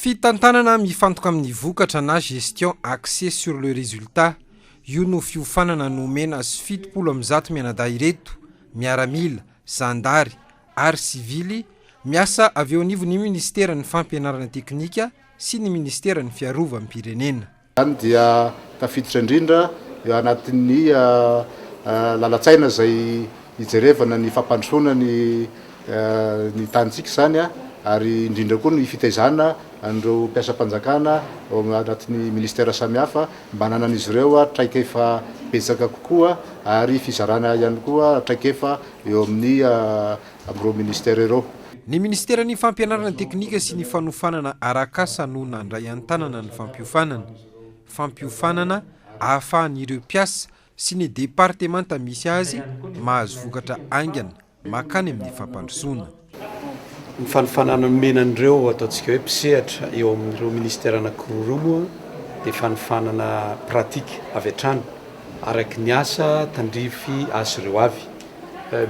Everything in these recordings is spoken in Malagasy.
Fitantanana mifantoka amin'ny vokatra na gestion axée sur le résultat, io no fiofanana nomena azy fitopolo amin'ny zato mianadahy ireto, miaramila, zandary ary sivily, miasa avy eo anivon'ny minisiteran'ny Fampianarana teknika sy ny minisiteran'ny Fiarovam-pirenena. Izany dia tafiditra indrindra eo anatin'ny lalan-tsaina izay hijerevana ny fampandrosoana ny ny tanintsika izany ary indrindra koa ny fitaizana an'ireo mpiasam-panjakana ao anatin'ny ministera samihafa mba hananan'izy ireo traikefa betsaka kokoa ary fizarana ihany koa traikefa eo amin'ny amin'ireo minisitera ireo. Ny minisiteran'ny Fampianarana teknika sy ny fanofanana arak'asa no nandray an-tanana ny fampiofanana. Fampiofanana ahafahan'ireo mpiasa sy ny departemanta misy azy mahazo vokatra haingana makany amin'ny fampandrosoana. Ny fanofanana nomena an'ireo ataontsika hoe mpisehatra eo amin'ireo minisitera anankiroa ireo moa dia fanofanana pratika avy hatrany araka ny asa tandrify azy ireo avy.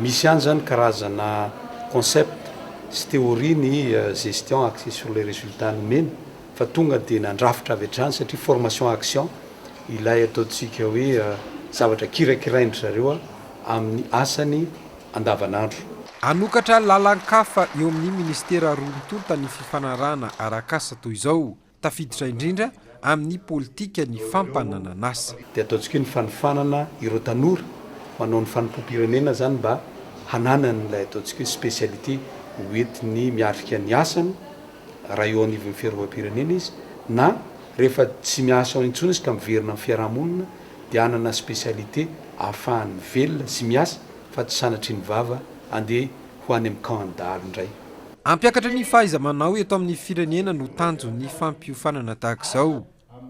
Misy ihany izany karazana concept sy théorie ny gestion axée sur les résultats nomena fa tonga dia nandrafitra avy hatrany satria formation action ilay ataontsika hoe zavatra kirakirain-dry zareo amin'ny asany andavanandro. Hanokatra lalan-kafa eo amin'ny Ministera roa mitonta ny fifanarahana arak'asa toy izao. Tafiditra indrindra amin'ny politika ny fampananan'asa. Dia ataontsika io ny fanofanana ireo tanora manao ny fanompoam-pirenena izany mba hananany ilay ataontsika hoe spécialité hoentiny miatrika ny asany raha eo anivon'ny fiarovam-pirenena izy na rehefa tsy miasa ao intsony izy ka miverina amin'ny fiarahamonina dia hanana spécialité ahafahany velona sy miasa fa tsy sanatria ny vava andeha ho any amin'ny camp an-dahalo indray. Hampiakatra ny fahaiza-manao eto amin'ny firenena no tanjon'ny fampiofanana tahaka izao.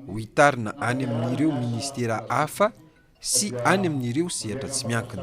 Hohitarina any amin'ireo minisitera hafa sy any amin'ireo sehatra tsy miankina.